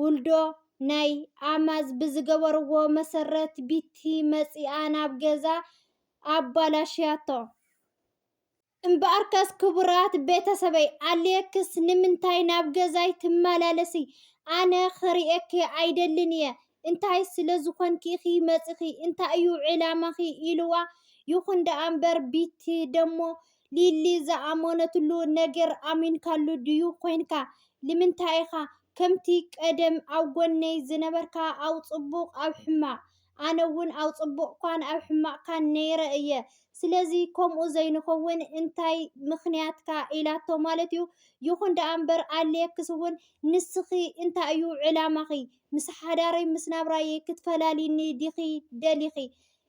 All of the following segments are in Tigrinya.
ውልዶ ናይ ኣማዝ ብዝገበርዎ መሰረት ቢቲ መፂኣ ናብ ገዛ ኣባላሽያቶ። እምበኣርከስ ክቡራት ቤተሰበይ ኣሌክስ ንምንታይ ናብ ገዛይ ትመላለሲ? ኣነ ክርእየኪ ኣይደልን እየ፣ እንታይ ስለ ዝኾንኪ ኢኺ መፂኺ? እንታይ እዩ ዕላማኺ? ኢሉዋ። ይኹን ደኣ እምበር ቢቲ ደሞ ሊሊ ዝኣመነትሉ ነገር ኣሚንካሉ ድዩ ኮይንካ ልምንታይ ኢካ ከምቲ ቀደም ኣብ ጎነይ ዝነበርካ ኣብ ጽቡቅ ኣብ ሕማቅ ኣነ ውን ኣብ ጽቡቅካን ኣብ ሕማቅካን ነይረ እየ ስለዚ ከምኡ ዘይንከውን እንታይ ምክንያትካ ኢላቶ ማለት እዩ ይኩን ደኣ እምበር ኣድልየክስ ውን ንስኪ እንታይ እዩ ዕላማኪ ምስ ሓዳረይ ምስ ናብራየይ ክትፈላልይኒ ዲኪ ደሊኪ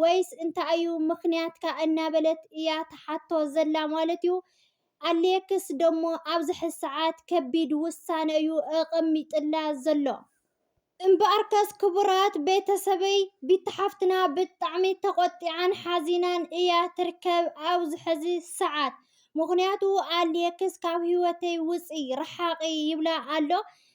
ወይስ እንታይ እዩ ምኽንያትካ እናበለት እያ ትሓቶ ዘላ ማለት እዩ። ኣሌክስ ደሞ ኣብዝሐ ሰዓት ከቢድ ውሳነ እዩ ኣቐሚጥላ ዘሎ። እምበኣርከስ ክቡራት ቤተሰበይ ቢቲ ሓፍትና ብጣዕሚ ተቖጢዓን ሓዚናን እያ ትርከብ ኣብዚ ሕዚ ሰዓት። ምኽንያቱ ኣሌክስ ካብ ህይወተይ ውፂ፣ ርሓቒ ይብላ ኣሎ።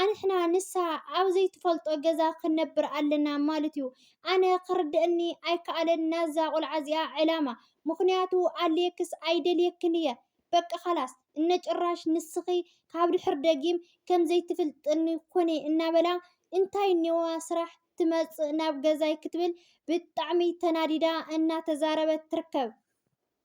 ኣንሕና ንሳ ኣብ ዘይትፈልጦ ገዛ ክንነብር ኣለና ማለት ዩ ኣነ ክርደእኒ ኣይካኣለን ናዛ ቆልዓ እዚኣ ዕላማ ምክንያቱ ኣልየክስ ኣይደልየክን እየ በቃ ካላስ እነ ጭራሽ ንስኪ ካብ ድሕር ደጊም ከም ዘይትፍልጥኒ ኩኒ እናበላ እንታይ እኒኦዋ ስራሕ ትመፅእ ናብ ገዛይ ክትብል ብጣዕሚ ተናዲዳ እናተዛረበት ትርከብ።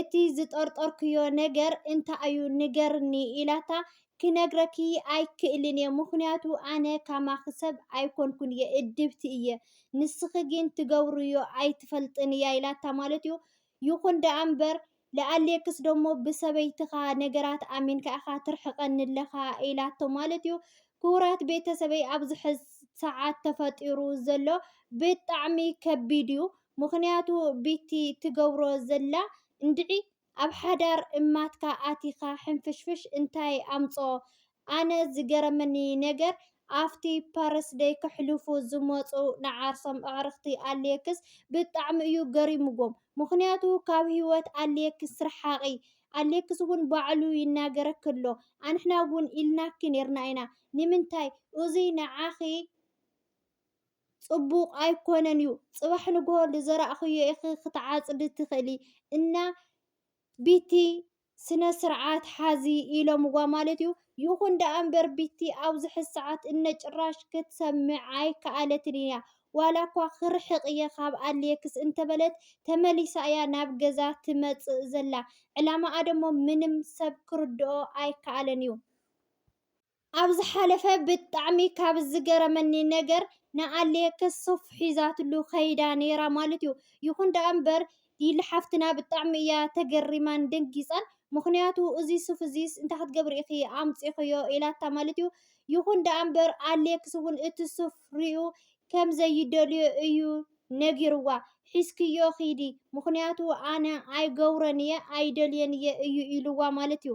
እቲ ዝጠርጠርክዮ ነገር እንታይ'ዩ ንገርኒ ኢላታ፣ ክነግረኪ ኣይክእልን'የ ምኽንያቱ ኣነ ከማኺ ሰብ ኣይኮንኩን'የ እድብቲ እየ ንስኺ ግን ትገብርዮ ኣይትፈልጥን'ያ ኢላታ ማለት'ዩ ይኹን ደኣ'ምበር ለኣሌክስ ደሞ ብሰበይትኻ ነገራት ኣሚንካ ኢኻ ትርሕቀኒ'ለኻ ኢላቶ ማለት'ዩ ክቡራት ቤተሰበይ ኣብዚሕዚ ሰዓት ተፈጢሩ ዘሎ ብጣዕሚ ከቢድ'ዩ ምክንያቱ ቢቲ ትገብሮ ዘላ እንድዒ ኣብ ሓዳር እማትካ ኣቲካ ሕንፍሽፍሽ እንታይ ኣምጾ ኣነ ዝገረመኒ ነገር ኣፍቲ ፐርስደይ ከሕልፉ ዝመጹ ንዓርሶም ኣዕርክቲ ኣሌክስ ብጣዕሚ እዩ ገሪምዎም ምክንያቱ ካብ ሂወት ኣሌክስ ርሓቂ ኣሌክስ እውን ባዕሉ ይናገረኪ ኣሎ ኣንሕና እውን ኢልናኪ ኔርና ኢና ንምንታይ እዙይ ንዓኪ ጽቡቕ ኣይኮነን ዩ ጽባሕ ንግሆ ልዘራእክዮ ኢኪ ክትዓጽዲ ትክእሊ እና ቢቲ ስነ ስርዓት ሓዚ ኢሎምዋ ማለት ዩ ይኩን ደኣ እምበር ቢቲ ኣብዚ ሕዚ ሰዓት እነ ጭራሽ ክትሰምዕ ኣይከኣለትን እያ ዋላ እኳ ክርሕቅ እየ ካብ ኣሌክስ እንተበለት ተመሊሳ እያ ናብ ገዛ ትመጽእ ዘላ ዕላማኣ ደሞ ምንም ሰብ ክርድኦ ኣይከኣለን ዩ። ኣብ ዝሓለፈ ብጣዕሚ ካብ ዝገረመኒ ነገር ንኣሌክስ ሱፍ ሒዛትሉ ከይዳ ነይራ ማለት እዩ። ይኹን ደኣ እምበር ዲል ሓፍትና ብጣዕሚ እያ ተገሪማን ደንጊፃን ምኽንያቱ እዚ ሱፍ እዚስ እንታይ ክትገብሪ ኢኺ ኣምፂኽዮ ኢላታ ማለት እዩ። ይኹን ደኣ እምበር ኣሌክስ እውን እቲ ሱፍ ሪኡ ከም ዘይደልዮ እዩ ነጊርዋ ሒዝክዮ ኺዲ ምኽንያቱ ኣነ ኣይገብሮን እየ ኣይደልዮን እየ እዩ ኢልዋ ማለት እዩ።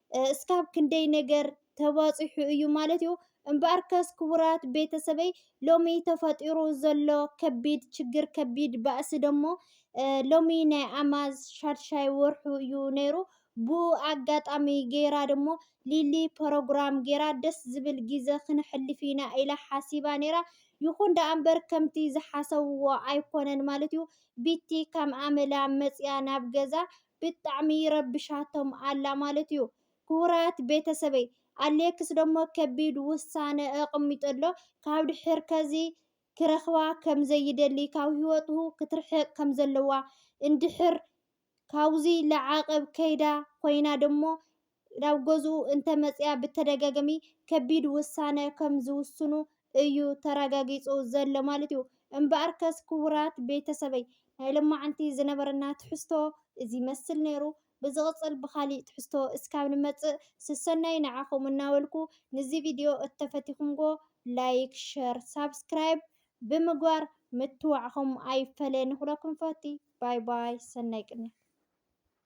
እስካብ ክንደይ ነገር ተባፂሑ እዩ ማለት እዩ። እምበኣርከስ ክቡራት ቤተሰበይ ሎሚ ተፈጢሩ ዘሎ ከቢድ ችግር ከቢድ ባእሲ ደሞ ሎሚ ናይ ኣማዝ ሻድሻይ ወርሑ እዩ ነይሩ። ብኡ ኣጋጣሚ ገይራ ደሞ ሊሊ ፐሮግራም ገይራ ደስ ዝብል ጊዘ ክነሕልፍ ኢና ኢላ ሓሲባ ነይራ። ይኹን ደኣ እምበር ከምቲ ዝሓሰብዎ ኣይኮነን ማለት እዩ። ቢቲ ከም ኣመላ መፂኣ ናብ ገዛ ብጣዕሚ ረብሻቶም ኣላ ማለት እዩ። ክቡራት ቤተሰበይ ኣሌክስ ደሞ ከቢድ ውሳነ ኣቐሚጡ ኣሎ ካብ ድሕር ከዚ ክረኽባ ከም ዘይደሊ ካብ ህይወቱ ክትርሕቕ ከም ዘለዋ እንድሕር ካብዙይ ለዓቕብ ከይዳ ኮይና ደሞ ናብ ገዝኡ እንተመፅኣ ብተደጋጋሚ ከቢድ ውሳነ ከም ዝውስኑ እዩ ተረጋጊፁ ዘሎ ማለት እዩ። እምበኣርከስ ክቡራት ቤተሰበይ ናይ ሎማዕንቲ ዝነበረና ትሕዝቶ እዚ ይመስል ነይሩ። ብዝቕፅል ብኻሊእ ትሕዝቶ እስካብ ንመፅእ ስሰናዩ ንዓኹም እናበልኩ ንዚ ቪድዮ እተፈቲኹምዎ ላይክ፣ ሸር፣ ሳብስክራይብ ብምግባር ምትብባዕኹም ኣይፈለየኒ ክብለኩም እፈቲ። ባይ ባይ ሰናይ ቅንያት።